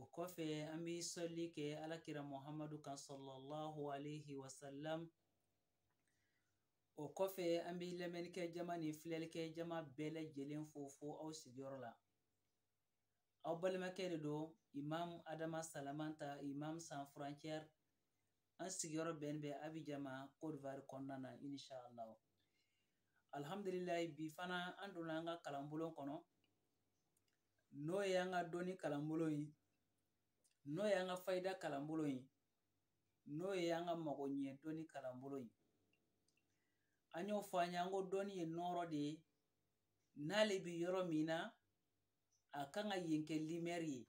o kɔfɛ an bɛ sɔli kɛ ala kira muhamadu kan salalahu aleyhi wa salam o kɔfɛ an bɛ lamɛnnikɛ jama ni filɛlikɛ jama bɛɛ lajɛlen fo fo aw sigiyɔrɔ la aw balimakɛ de don imam adama salamanta imam sans frontière an sigiyɔrɔ bɛn bɛ abijan ma kodivari kɔnɔna na inshallah alhamdulilayi bi fana an donna an ka kalanbulon kɔnɔ n'o ye an ka dɔnni kalanbulon ye n'o ye an ka fayida kalanbulon ye n'o ye an ka mago ɲɛ dɔnni kalanbulon ye an y'o fɔ an ye an ko dɔnni ye nɔɔrɔ de ye n'ale bɛ yɔrɔ min na a kan ka yen kɛ limɛri ye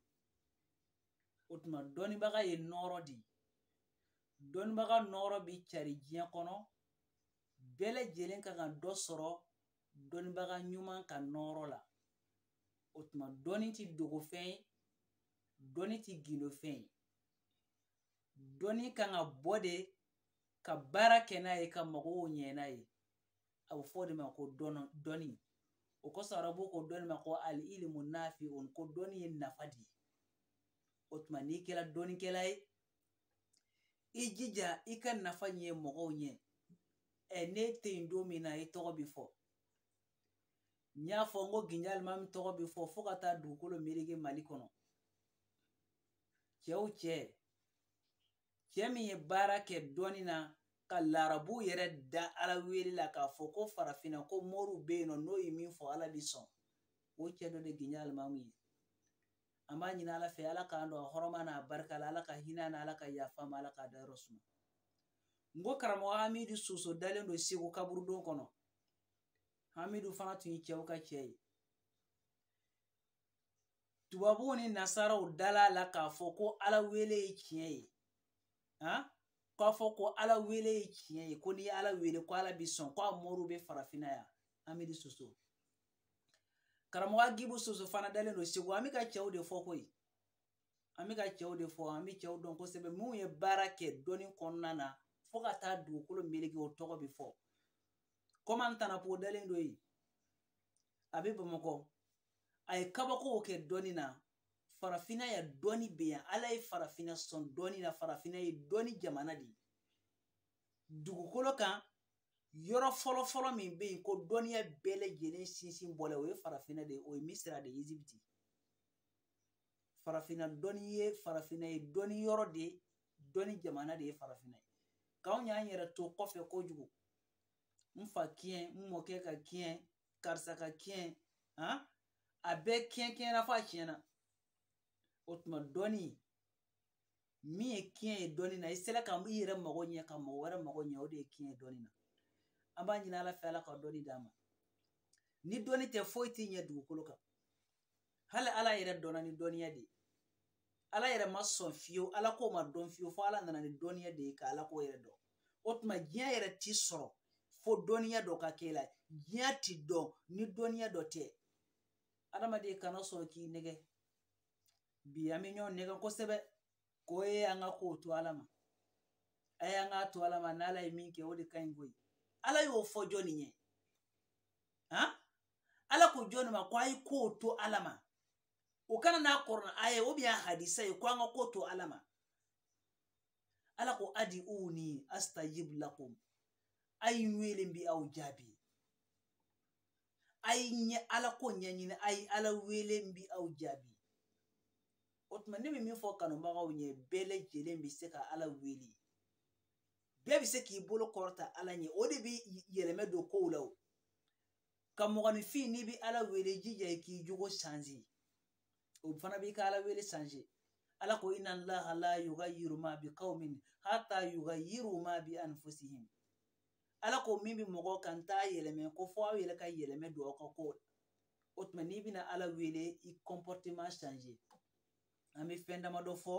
o tuma dɔnnibaga ye nɔɔrɔ de ye dɔnnibaga nɔɔrɔ bɛ cari diɲɛ kɔnɔ bɛɛ lajɛlen kan ka dɔ sɔrɔ dɔnnibaga ɲuman ka nɔɔrɔ la o tuma dɔnni ti dogo fɛn ye dɔnni ti gindo fɛn ye dɔnni kan ka bɔ de ka baara kɛ n'a ye ka mɔgɔw ɲɛ n'a ye a bɛ fɔ o de ma ko dɔnni o kosɔn arabu ko dɔnni ma ko al ilimu nafiun ko dɔnni ye nafa de ye o tuma n'i kɛra dɔnnikɛla ye i jija i ka nafa ɲɛ mɔgɔw ɲɛ ɛ n'e tɛ yen don min na i tɔgɔ bɛ fɔ n y'a fɔ n ko ginjo alimami tɔgɔ bɛ fɔ fo ka taa dugukolo meleke mali kɔnɔ cɛw cɛ cɛ min ye baara kɛ dɔnni na ka larabu yɛrɛ da ala wele la k'a fɔ ko farafinna ko moriw bɛ yen nɔ n'o ye min fɔ ala bɛ sɔn o cɛ dɔ de ginjo alimami ye an b'a ɲini ala fɛ ala k'an don a hɔrɔma n'a barika la ala ka hinɛ a na ala ka yafa a ma ala k'a dayɔrɔ suma n ko karamɔgɔ hamidu soso dalen don segu kaburudon kɔnɔ hamidu fana tun ye cɛw ka cɛ ye tubabuw ni nasaraw dala la k'a fɔ ko ala wele ye tiɲɛ ye han k'a fɔ ko ala wele ye tiɲɛ ye ko n'i ye ala wele ko ala bi sɔn ko a moriw bɛ farafinna yan hamidu soso karamɔgɔ agibu soso fana dalen don segu an bɛ ka cɛw de fɔ koyi an bɛ ka cɛw de fɔ an bɛ cɛw dɔn kosɛbɛ minnu ye baara kɛ dɔnni kɔnɔna na fo ka taa dugukolo meleke o tɔgɔ bɛ fɔ kɔman tanapo dalen don yen a bɛ bamakɔ a ye kabakow kɛ dɔnni na farafinna yan dɔnni bɛ yan ala ye farafinna son dɔnni na farafinna ye dɔnni jamana de ye dugukolo kan yɔrɔ fɔlɔfɔlɔ min bɛ yen ko dɔnniya bɛɛ lajɛlen sinsin bɔla o ye farafinna de ye o ye misira de ye ezibiti farafinna dɔnni ye farafinna ye dɔnni yɔrɔ de ye dɔnni jamana de ye farafinna ye k'anw y'an yɛrɛ to kɔfɛ kojugu n fa kiɲɛ n mɔkɛ ka kiɲɛ karisa ka kiɲɛ han a bɛɛ kiɲɛ kiɲɛna f'a tiɲɛna o tuma dɔnni min ye kiɲɛ ye dɔnni na i sera ka i yɛrɛ mago ɲɛ ka mɔgɔ wɛrɛ mago ɲɛ o de ye kiɲɛ ye dɔnni na an b'a ɲini ala fɛ ala ka dɔnni d'an ma ni dɔnni tɛ foyi t'i ɲɛ dugukolo kan hali ala yɛrɛ dɔnna ni dɔnniya de ye ala yɛrɛ ma sɔn fiyewu ala ko ma dɔn fiyewu fo ala nana ni dɔnniya de ye ka ala ko yɛrɛ dɔn o tuma diɲɛ yɛrɛ ti sɔrɔ fo dɔnniya dɔ ka k'e la diɲɛ ti dɔn ni dɔnniya dɔ tɛ adamaden kana sɔn k'i nɛgɛ bi an bɛ ɲɔgɔn nɛgɛn kosɛbɛ ko a y'an ka kow to ala ma a y'an k'a to ala ma n'ala ye min kɛ o de ka ɲi koyi ala y'o fɔ jɔnni ye han ala ko jɔnni ma ko a ye kow to ala ma o ka na n'a kuranɛ aya ubiyɛn a hadisa ye ko an ka ko to ala ma ala ko uduuni astajibu lakum a ye n wele n bi aw jaabi a ye ɲɛ ala ko ɲɛɲini a ye ala wele n bi aw jaabi o tuma ne bɛ min fɔ kanubagaw ɲɛ bɛɛ lajɛlen bɛ se ka ala wele bɛɛ bɛ se k'i bolo kɔrɔta ala ɲɛ o de bɛ yɛlɛmɛ don kow la nka mɔgɔninfin n'i bɛ ala wele jija i k'i jogo sanze o fana b'i ka ala wele sanze ala ko inna allaha la yugayiru ma bi qaumin hatta yugayiru ma bi anfusihim ala ko min bɛ mɔgɔw kan n t'a yɛlɛmɛ ko fo aw yɛrɛ ka yɛlɛmɛ don aw ka ko la o tuma n'i bɛna ala wele i kɔnpɔriteman sanze an bɛ fɛn damadɔ fɔ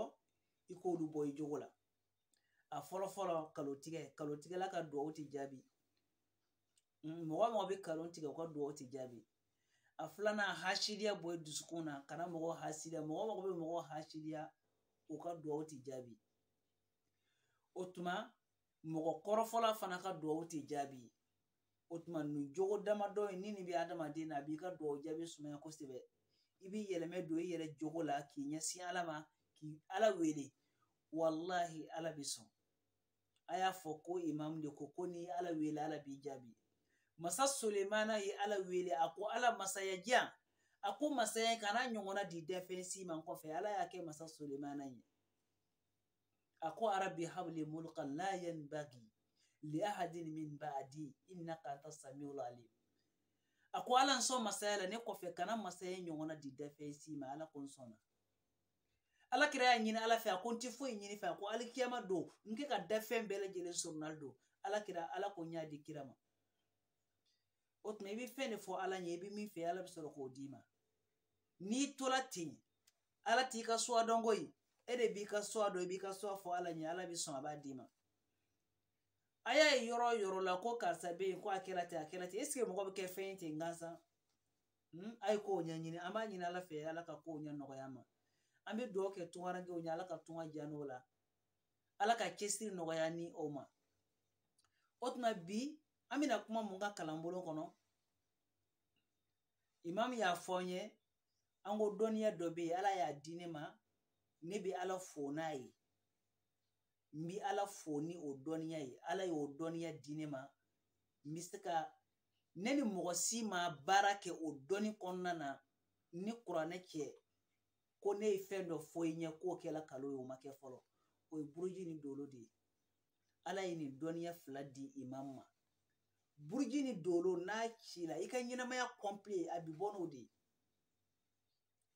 i k'olu bɔ i jogo la a fɔlɔ fɔlɔ kalotigɛ kalotigɛla ka duwawu tɛ jaabi mɔgɔ mɔgɔ bɛ kalo tigɛ u ka duwawu tɛ jaabi a filanan hasidiya bɔ dusukun na kana mɔgɔ hasidiya mɔgɔ mɔgɔ bɛ mɔgɔ hasidiya u ka duwawu tɛ jaabi o tuma mɔgɔ kɔrɔfɔla fana ka duwawu tɛ jaabi o tuma nin jogo damadɔ in ni nin bɛ adamaden na a b'i ka duwawu jaabi sumaya kosɛbɛ i b'i yɛlɛmɛ don i yɛrɛ jogo la k'i ɲɛsin ala ma ka ala wele walahi ala bɛ sɔn a y'a fɔ ko imamu de ko ko n'i ala wele ala b'i jaabi masa solemana ye ala wele a ko ala masaya di yan a ko masaya kan'a ɲɔgɔnna di danfɛn si ma n kɔfɛ ala y'a kɛ masa solemana ye a ko arabi habli mulkan la yanbagi li ahadin min ba'di innaka anta samiul alim a ko ala n sɔn masaya la ne kɔfɛ kana masaya ɲɔgɔnna di dafɛn si ma ala ko n sɔnna ala kira y'a ɲini ala fɛ a ko n tɛ foyi ɲin'i fɛ a ko alikiyama don n kɛ ka dafɛn bɛɛ lajɛlen soronnadon ala kira ala ko n y'a di kira ma o tuma i bɛ fɛn de fɔ ala ɲɛ i bɛ min fɛ ala bɛ sɔrɔ k'o d'i ma n'i tola ten ala t'i ka suwa dɔn koyi e de b'i ka suwa dɔn i b'i ka suwa fɔ ala ɲɛ ala bɛ sɔn a b'a d'i ma a y'a ye yɔrɔ o yɔrɔ la ko karisa bɛ yen ko a kɛla ten a kɛla ten eseke mɔgɔ bɛ kɛ fɛn ye ten gansan hmm, a ye kow ɲɛɲini an b'a ɲini ala fɛ ala ka kow ɲɛ nɔgɔya ma an bɛ dugawu kɛ tungarankew ɲɛ ala ka tunga diya n'o la ala ka cɛsiri nɔgɔya ni o ma o tuma bi an bɛna kuma mun kan kalanbolo kɔnɔ imamu y'a fɔ n ye an ko dɔnniya dɔ bɛ yen ala y'a di ne ma ne bɛ ala fo n'a ye n bɛ ala fo ni o dɔnniya ye ala y'o dɔnniya di ne ma n bɛ se ka ne ni mɔgɔ si ma baara kɛ o dɔnni kɔnɔna na ni kuranɛ cɛ ko ne ye fɛn dɔ fɔ i ɲɛ k'o kɛla kalo ye o ma kɛ fɔlɔ o ye buruji ni dolo de ye ala ye nin dɔnniya fila di imamu ma buruji ni dolo n'a cila i ka ɲɛnamaya kɔnpile a bi bɔ n'o de ye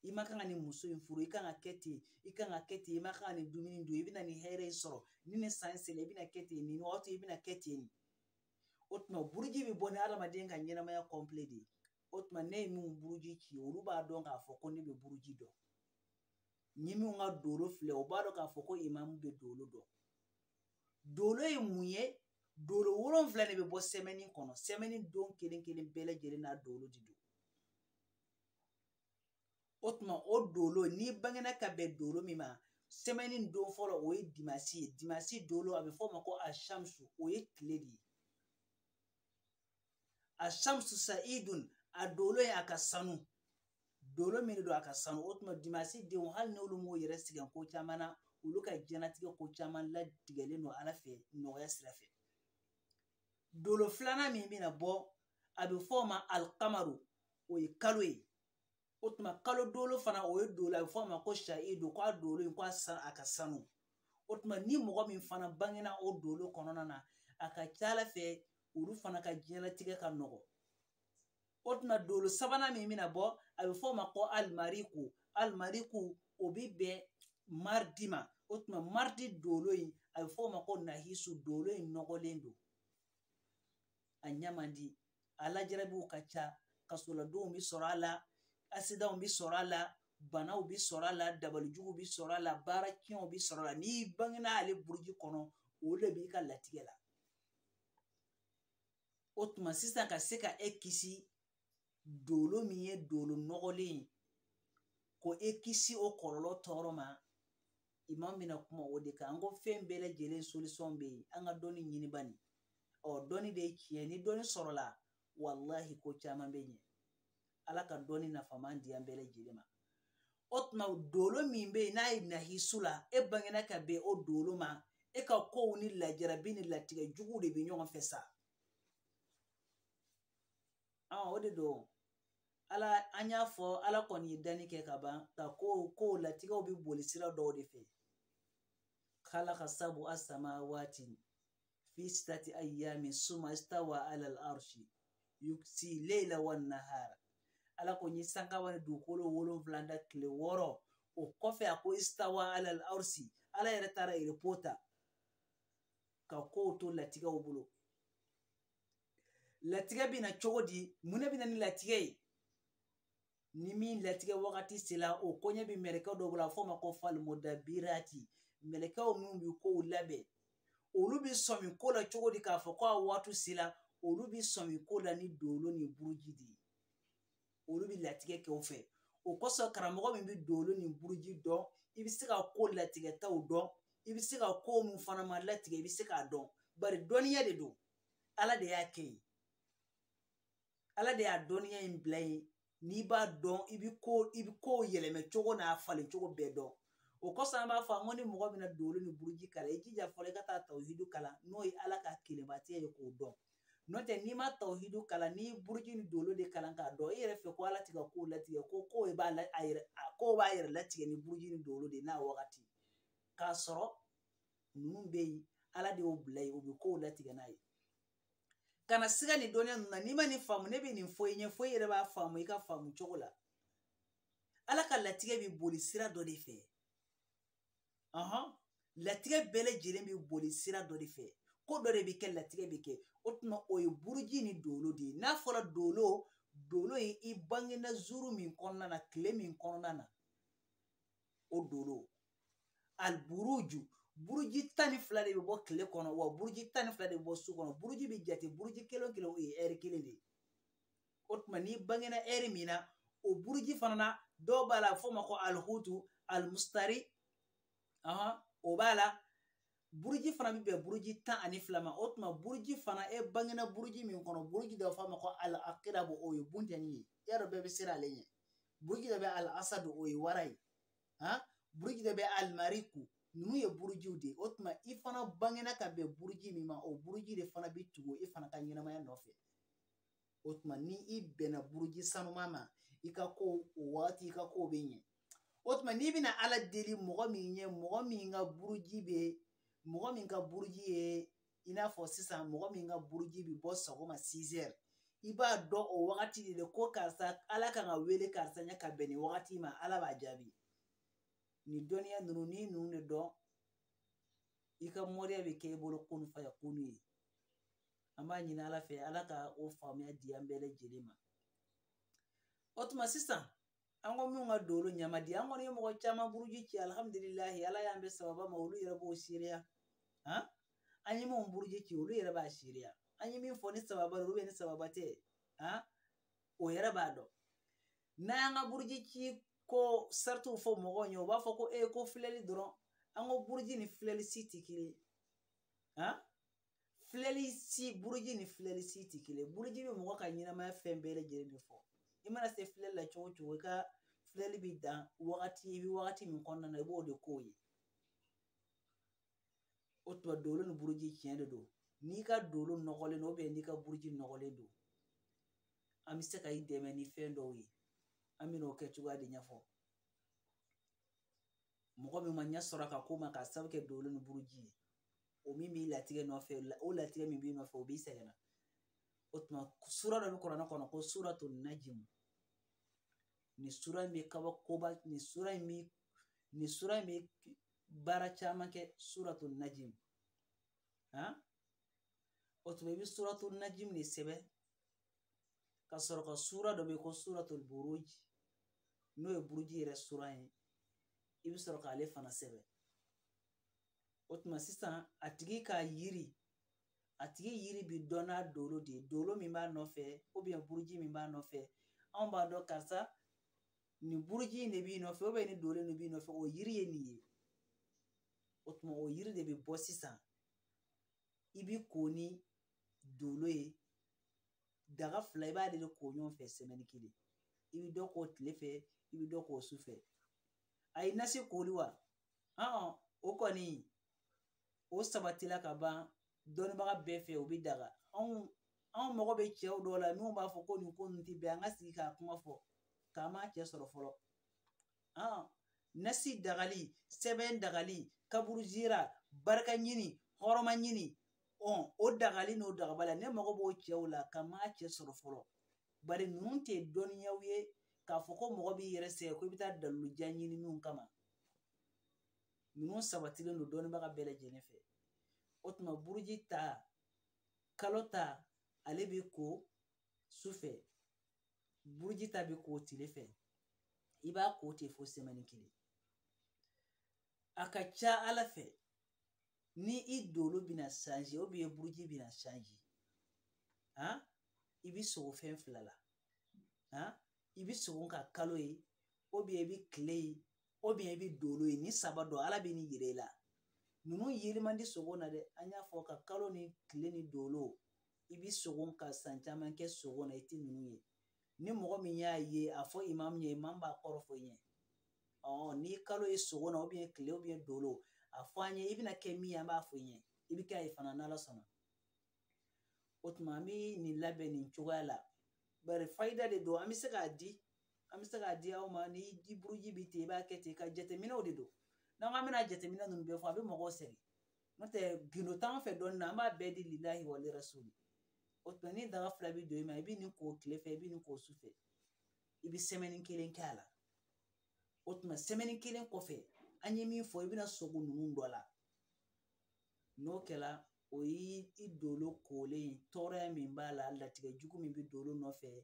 i ma kan ka nin muso in furu i kan ka kɛ ten i kan ka kɛ ten i ma kan ka nin dumuni dun i bɛna nin hɛrɛ in sɔrɔ ni nin san sera i bɛna kɛ ten nin wagati i bɛna kɛ ten o tuma buruji bɛ bɔ ni adamaden ka ɲɛnamaya kɔnpile de ye o tuma ne ye min buruji ci olu b'a dɔn k'a fɔ ko ne bɛ buruji dɔn ni min ka dolo filɛ o b'a dɔn k'a fɔ ko imamu bɛ dolo dɔn dolo ye mun ye dolo wolonfila de bɛ bɔ sɛmɛni kɔnɔ sɛmɛni don kelen kelen bɛɛ lajɛlen n'a dolo de don o tuma o dolo n'i bangena ka bɛn dolo min ma sɛmɛni don fɔlɔ o ye dimasi ye dimasi dolo a bɛ fɔ o ma ko ashamsu o ye tile de ye ashamsu sa'idun a dolo ye a ka sanu dolo min don a ka sanu o tuma dimasi denw hali n'olu m'o yɛrɛ sɛgɛn ko caman na olu ka diɲɛnatigɛ ko caman latigɛlen don ala fɛ nɔgɔya sira fɛ dolo filanan min bɛna bɔ a bɛ fɔ o ma alikamaru o ye kalo ye o tuma kalo dolo fana o ye dolo a bɛ fɔ a ma ko sa'idu k'a dolo in ko a ka sanu o tuma ni mɔgɔ min fana bangena o dolo kɔnɔna na a ka ca ala fɛ olu fana ka diɲɛlatigɛ ka nɔgɔ o tuma dolo sabanan min bɛna bɔ a bɛ fɔ o ma ko alimariku alimariku o bɛ bɛn maridi ma o tuma maridi dolo in a bɛ fɔ o ma ko nahisu dolo in nɔgɔlen don a ɲɛ man di a lajarabiw ka ca kasoladonw bɛ sɔrɔ a la asidanw bɛ sɔrɔ a la banaw bɛ sɔrɔ a la dabalijugu bɛ sɔrɔ a la baara tiɲɛw bɛ sɔrɔ a la n'i bangena ale buruji kɔnɔ o de b'i ka latigɛ la o tuma sisan ka se ka e kisi dolo min ye dolo nɔgɔlen ye ko e kisi o kɔlɔlɔ tɔɔrɔ ma i ma bɛna kuma o de kan an ko fɛn bɛɛ lajɛlen solisɔn bɛ yen an ka dɔnni ɲini bani ɔ dɔnni de ye tiɲɛ ni dɔnni sɔrɔla walahi ko caman bɛ ɲɛ ala ka dɔnni nafama di an bɛɛ lajɛlen ma o tuma dolo min bɛ yen n'a ye nahisu la e bangena ka bɛn o dolo ma e ka kow ni lajarabi ni latigɛ juguw de bɛ ɲɔgɔn fɛ sa o de don ala an y'a fɔ ala kɔni ye danni kɛ ka ban nka ko ko latigɛw bɛ boli sira dɔw de fɛ kalaka sabua samawati fi sitati ayyami suma istawa ala al-arshi yuksi leila wa nahara ala ko n ye sankaba ni dugukolo wolonwula da tile wɔɔrɔ o kɔfɛ a ko istawa ala al-arshi ala yɛrɛ taara erepo ta ka kow to latigɛw bolo latigɛ bɛ na cogo di mun de bɛ na ni latigɛ ye ni min latigɛ wagati sera o koɲɛ bɛ mɛlɛkɛ dɔw bolo a fɔ u ma ko falimudabirati mɛlɛkɛw minnu bɛ kow labɛn olu bɛ sɔmi ko la cogo di k'a fɔ ko a waati sera olu bɛ sɔmi ko la ni dolo ni buruji de ye olu bɛ latigɛ kɛ o fɛ o kosɔn karamɔgɔ min bɛ dolo ni buruji dɔn i bɛ se ka ko latigɛtaw dɔn i bɛ se ka ko min fana ma latigɛ i bɛ se k'a dɔn bari dɔnniya de don ala de y'a kɛ yen ala de y'a dɔnniya in bila yen n'i b'a dɔn i bɛ ko i bɛ kow yɛlɛma cogo n'a falen cogo bɛɛ dɔn o kosɔn an b'a fɔ an ko ni mɔgɔ bɛna dolo ni buruji kalan i jija fɔlɔ i ka taa tawhidu kalan n'o ye ala ka kelenbatiya ye k'o dɔn n'o tɛ n'i ma tawhidu kalan n'i buruji ni dolo de kalan k'a dɔn i yɛrɛ fɛ ko ala tɛ ka ko latigɛ ko ko b'a a yɛrɛ ko b'a yɛrɛ latigɛ ni buruji ni dolo de n'a wagati k'a sɔrɔ ninnu bɛ yen ala de y'o bila yen u bɛ kow latigɛ n'a ye kana siga nin dɔnniya ninnu na n'i ma nin faamu ne bɛ nin fɔ i ɲɛ fo i yɛrɛ b'a faamu i ka faamu cogo la ala ka latigɛ bɛ boli sira dɔ de fɛ latigɛ bɛɛ lajɛlen bɛ boli sira dɔ de fɛ ko dɔ de bɛ kɛ latigɛ bɛ kɛ o tuma o ye buruji ni dolo de ye n'a fɔra dolo dolo ye i bangena zuru min kɔnɔna na tile min kɔnɔna na o dolo aliburuju buruji tan ni fila de bɛ bɔ tile kɔnɔ wa buruji tan ni fila de bɛ bɔ su kɔnɔ buruji bɛ jate buruji kelen kelen o ye ɛri kelen de ye o tuma n'i bangena ɛri min na o buruji fana na dɔ b'a la f'o ma ko alihutu alimusitari o b'a la buruji fana bɛ bɛn buruji tan ani fila ma o tuma buruji fana e bangena buruji min kɔnɔ buruji dɔ f'a ma ko al akirabo o ye buntɛni ye i y'a dɔn bɛɛ bɛ siran ale ɲɛ buruji dɔ bɛ al asadu o ye wara ye han buruji dɔ bɛ alimariku ninnu ye burujiw de ye o tuma i fana bangena ka bɛn buruji min ma o buruji de fana bɛ tugu i fana ka ɲɛnamaya nɔfɛ o tuma ni i bɛnna buruji sanuma ma i ka ko o wagati i ka ko bɛ ɲɛ o tuma n'i bɛna ala deli mɔgɔ min ye mɔgɔ min ka buruji bɛ mɔgɔ min ka buruji ye i n'a fɔ sisan mɔgɔ min ka buruji bɛ bɔ sɔgɔma sizɛri i b'a dɔn o wagati de la ko karisa ala kan ka wele karisa ɲɛ ka bɛn nin wagati ma ala b'a jaabi nin dɔnniya ninnu n'i ninnu de dɔn i ka moriya bɛ kɛ i bolo kunu fayakunu ye an b'a ɲini ala fɛ ala ka o faamuya di an bɛɛ lajɛlen ma o tuma sisan an ko minnu ka dolo man di an kɔni ye mɔgɔ caman buruji ci alihamudulilayi ala y'an bɛn sababu ma olu yɛrɛ b'o seereya han an ye minnu buruji ci olu yɛrɛ b'a seereya an ye min fɔ ni sababu olu bɛ ni sababu tɛ han o yɛrɛ b'a dɔn n'an y'an ka buruji ci ko saritiw fɔ mɔgɔw ɲɛ u b'a fɔ ko e ko filɛli dɔrɔn an ko buruji ni filɛli si tɛ kelen ye han filɛli si buruji ni filɛli si tɛ kelen ye buruji bɛ mɔgɔ ka ɲɛnamaya fɛn bɛɛ lajɛlen de fɔ i mana se filɛli la cogo o cogo i ka filɛli bɛ dan wagati i bɛ wagati min kɔnɔna na i b'o de ko ye o tuma dolo ni buruji tiɲɛ de don n'i ka dolo nɔgɔlen don n'i ka buruji nɔgɔlen don an bɛ se ka i dɛmɛ ni fɛn dɔw ye an bɛn'o kɛcogoya de ɲɛfɔ mɔgɔ min ma ɲɛ sɔrɔ ka ko ma k'a sabu kɛ dolo ni buruji ye o min b'i latigɛ nɔfɛ o latigɛ min b'i nɔfɛ o b'i sɛgɛn na o tuma sura dɔ bɛ kuranɛ kɔnɔ ko suratu najimu nin sura in bɛ kabakoba nin sura in bɛ nin sura in bɛ baara caman kɛ suratu najimu han o tuma i bɛ suratu najimu de sɛbɛn ka sɔrɔ ka sura dɔ bɛ ko suratul buruj n'o ye buruji yɛrɛ sura ye i bɛ sɔrɔ k'ale fana sɛbɛn o tuma sisan a tigi ka yiri a tigi yiri bɛ dɔn n'a dolo de ye dolo min b'a nɔfɛ buruji min b'a nɔfɛ anw b'a dɔn karisa nin buruji in de b'i nɔfɛ nin dolo in de b'i nɔfɛ o yiri ye nin ye o tuma o yiri de bɛ bɔ sisan i bi ko ni dolo ye daga fila i b'ale de ko ɲɔgɔn fɛ sɛmɛni kelen i bi dɔ ko tile fɛ i bi dɔ ko su fɛ ayi nasi koli wa ɔn o kɔni o sabatila ka ban dɔnnibaga bɛɛ fɛ o bi daga anw anw mago bɛ cɛw dɔw la minnu b'a fɔ ko nin ko ninnu tɛ bɛn an ka sigi k'a kuma fɔ k'an m'a cɛ sɔrɔ fɔlɔ nasi dagali sɛbɛn dagali kaburu jira barika ɲini hɔrɔma ɲini o dagali n'o dagabaliya ne mago b'o cɛw la ka n m'a cɛ sɔrɔ fɔlɔ bari ninnu tɛ dɔnniyaw ye k'a fɔ ko mɔgɔ b'i yɛrɛ sɛgɛn ko i bɛ taa dalilu jan ɲini min kama ninnu sabatilen don dɔnnibaga bɛɛ lajɛlen fɛ o tuma buruji ta kalo ta ale bɛ ko su fɛ buruji ta bɛ ko tile fɛ i b'a ko ten fo sɛmɛni kelen a ka ca ala fɛ ni i dolo bɛna sanze ou bien buruji bɛna sanze han i bɛ sogo fɛn fila la han i bɛ sogo ka kalo ye ou bien i bɛ kile ye ou bien i bɛ dolo ye nin saba dɔ ala bɛ nin yira i la ninnu yeli man di sogo na dɛ an y'a fɔ ka kalo ni kile ni dolo i bɛ sogo ka san caman kɛ sogo na i tɛ ninnu ye ni mɔgɔ min y'a ye a fɔ imamu ɲɛ imamu b'a kɔrɔ fɔ i ɲɛ ɔ ni i kalo ye sogo na ou bien kile ou bien dolo a fɔ an ɲɛ i bɛna kɛ min ye an b'a fɔ i ɲɛ i bɛ kɛ a ye fana n'ala sɔnna o tuma an bɛ nin labɛn nin cogoya la bari fayida de don an bɛ se k'a di an bɛ se k'a di aw ma ni i buruji bɛ ten i b'a kɛ ten ka jateminɛw de don n'an k'an bɛna jateminɛ ninnu bɛɛ fɔ a bɛ mɔgɔw sɛgɛn n'o tɛ gindo t'an fɛ dɔnni na an b'a bɛɛ di lilahi wali rasuli o tuma ni daga fila bɛ don i ma i bɛ nin ko tile fɛ i bɛ nin ko su fɛ i bɛ sɛmɛni kelen kɛ a la o tuma sɛmɛni kelen kɔfɛ an ye min fɔ i bɛna sogo ninnu dɔ la n'o kɛra o y'i dolo kolen ye tɔɔrɔya min b'a la latigɛ jugu min bɛ dolo nɔfɛ o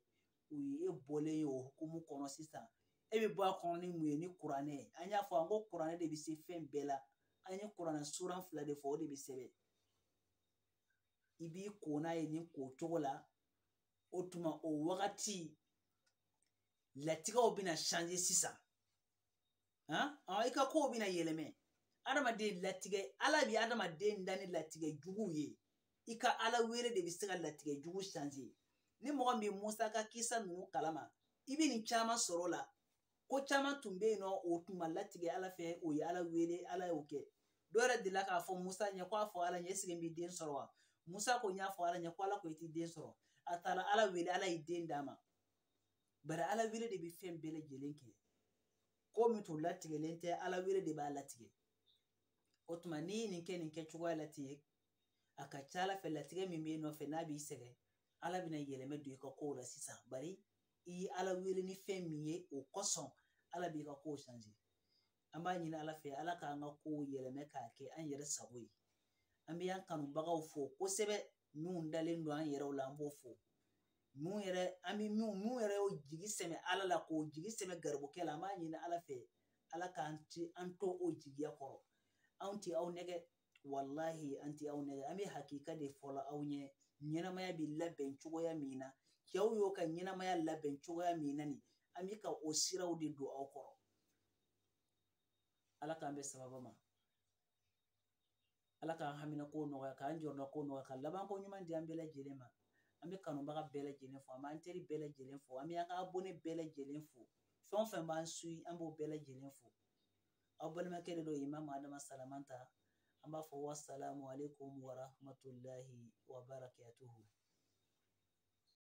ye e bɔlen ye o hukumu kɔnɔ sisan e bɛ bɔ a kɔnɔ ni mun ye ni kuranɛ ye an y'a fɔ an ko kuranɛ de bɛ se fɛn bɛɛ la an ye kuranɛ suran fila de fɔ o de bɛ sɛbɛn i b'i ko n'a ye nin ko cogo la o tuma o wagati latigɛw bɛna sanze sisan i ka kow bɛna yɛlɛmɛ adamaden latigɛ ala bɛ adamaden da ni latigɛ juguw ye i ka ala wele de bɛ se ka latigɛ jugu sanze ni mɔgɔ min bɛ musa ka kisa ninnu kalama i bɛ nin caman sɔrɔ o la ko caman tun bɛ yen n'o tun ma latigɛ ala fɛ o ye ala wele ala y'o kɛ dɔ yɛrɛ delila k'a fɔ musa ɲɛ ko a fɔ ala ɲɛ sigi bɛ den sɔrɔ wa musa ko n y'a fɔ ala ɲɛ ko ala ko i ti den sɔrɔ a taara ala wele ala ye den d'a ma bari ala wele de bɛ fɛn bɛɛ lajɛlen kɛ ko min tun latigɛlen tɛ ala wele de b'a latigɛ o tuma n'i ye nin kɛ nin kɛ cogoya la ten a ka ca ala fɛ latigɛ min b'i nɔfɛ n'a b'i sɛgɛn ala bɛna yɛlɛmɛ don i ka kow la sisan bari i ye ala wele ni fɛn min ye o kosɔn ala b'i ka kow changer an b'a ɲini ala fɛ ala k'an ka kow yɛlɛmɛ k'a kɛ an yɛrɛ sago ye an bɛ an kanubagaw fo kosɛbɛ minnu dalen don an yɛrɛw la an b'o fo mun yɛrɛ an bɛ minnu yɛrɛ y'o jigi sɛmɛ ala la k'o jigi sɛmɛ garibukɛ la an b'a ɲini ala fɛ ala k'an ti an to o jigiya kɔrɔ anw ti aw nɛgɛ walahi an ti aw nɛgɛ an bɛ hakika de fɔla aw ɲɛ ɲɛnamaya bɛ labɛn cogoya min na cɛw y'o ka ɲɛnamaya labɛn cogoya min na nin an bɛ ka o siraw de don aw kɔrɔ ala k'an bɛn sababa ma ala k'an hamina ko nɔgɔya k'an jɔrɔna ko nɔgɔya ka laban ko ɲuman di an bɛɛ lajɛlen ma an bɛ kanubaga bɛɛ lajɛlen fo an b'an teri bɛɛ lajɛlen fo an bɛ an ka abonne bɛɛ lajɛlen fo fɛn o fɛn b'an suyi an b'o bɛɛ lajɛlen fo aw balimakɛ de don imamu adama salamanta an b'a fɔ wasalamu aleykum warahmatulahi wabarakatuhu